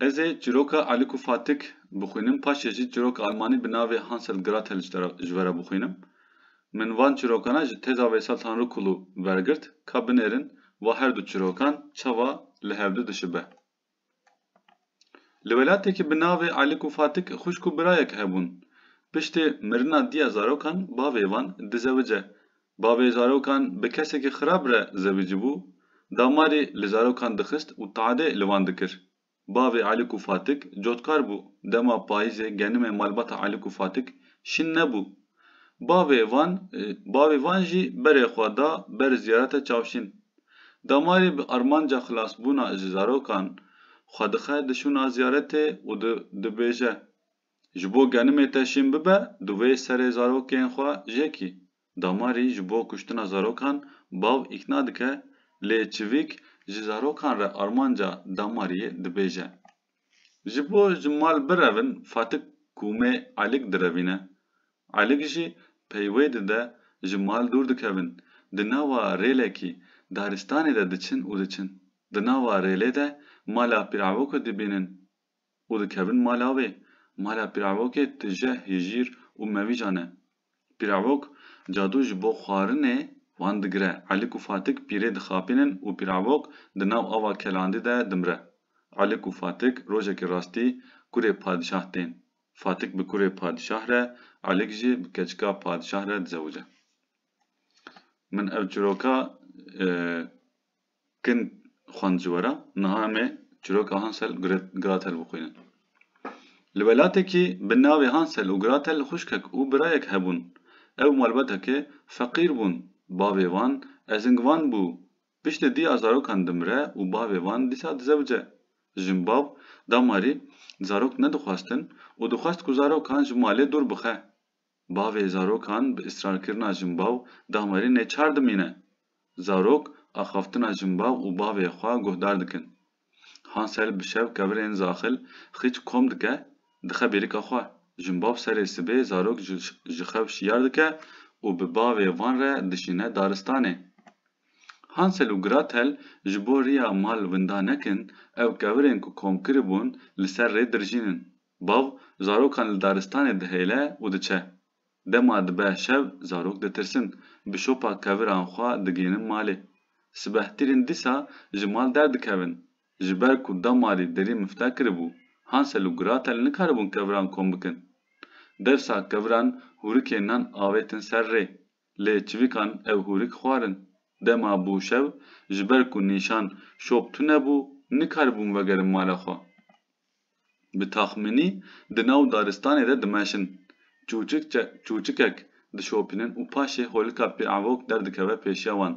Ez ê çîroka Aliko Fatik bixwînim, paşê jî çîroka Almanî bi navê Hansel Gratel ji vera bixwînim. Min van çîrokana ji têza Veysel Tanrıkulu vergirt. Ka binêrin va her du çîrokan çawa li hevdu dişibe. Li welatêkî bi navê Aliko Fatik xwişk û birayek hebûn. Piştê mirina diya zarokan bavê van dizewice. Bavê zarokan bi kesekî xirab re zewicibû, damarî li zarokan dixist û tadê li wan dikir. Bavê Alik û Fatik cotkar bû, dema payîzê genimê malbata Alik û Fatik şîn nebû. Bavê van bavê van jî berê xwe da ber ziyarete çavşîn. Damarî bi armanca xilasbûna ji zarokan xwe dixe dişûna ziyaretê û dibêje. Ji bo genimê te şîn bibe, divê serê zarokên xwe jêkî. Damarî ji bo kuştina zarokan bav îkna dike, lê çivîk ji zarokan re armanca Damariyê dibêje. Ji bo ji mal birevin Fatik kûmê Elik direvîne. Elik jî peyvê dide ji mal dûr dikevin, di nava rêlekî, daristanê de diçin û diçin. Di nava rêlê de mala Pîravokê dibînin. û dikevin mala wê. Mala Pîravokê tije, hijîr û mewîcan e. Pîravok cadû ji bo xwarinê wan digire. Elik û Fatik pîrê dixapînin û Pîravok di nav ava kelandî de dimire. Elik û Fatik rojekê rastî kurê padîşah tên. Fatik bi kurê padîşah re, Elik jî bi keçika padîşah re dizewice. Min ev çiroka Kin xwend ji we re, niha em ê çîroka Hansel û Gretel bixwînin. Li welatekî bi navê Hansel û Gretel xwişkek û birayek hebûn. Ew malbateke feqîr bûn. Bavê wan ezingvan bû. Piştî diya zarokan dimire û bavê wan dîsa dizewce. Jin bav damarî zarok nedixwestin û dixwest ku zarokan ji malê dûr bixe. Bavê zarokan bi îsrarkirina jinbaw daxmerî neçar dimîne. Zarok axaftina jinbaw û bavê xwe guhdar dikin. Hansel bi şev kevirên zaxil xîç kom dike, dixe bêrika xwe. Jinbaw serê sibê zarok ji xew şiyar dike û bi bavê van re dişîne daristanê. Hansel û Gratel ji bo riya mal winda nekin, ew kevirên ku kom kiribûn li ser rê dirjînin. Bav zarokan li daristanê dihêle û diçe. Dema dibe şev zarok ditirsin, bi şopa keviran xwe digihînin malê. Sibehtîrên dîsa ji mal derdikevin. Ji ber ku damarî derî mifta kiribû, Hansel û Gratel nikaribûn keviran kom bikin. Dewsa keviran hûrikê nan avêtin ser rê. Lê çivîkan ev hûrik xwarin. Dema bû şev, ji ber ku nîşan şop tune bû, nikaribûn vegerin mala xwe. Bi taxmînî di nav daristanê de dimeşin. Çûçikek dişopînin û paşê holika pêavok derdikeve pêşiya wan.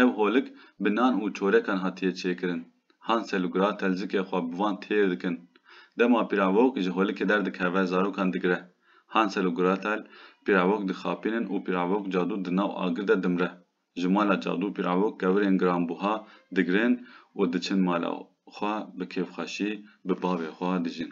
Ev holik bi nan û çorekan hatiye çêkirin. Hansel û Gratel zikê xwe bi van têr dikin. Dema pîravok ji holikê derdikeve zarokan digire. Hansel û Gratel pîravok dixapînin û pîravok cadû di nav agir de dimre. ji mala çadû pîravûk kevirên giranbûha digirin û diçin mala xwe bi kêfxweşî bi bavê xwe dijîn.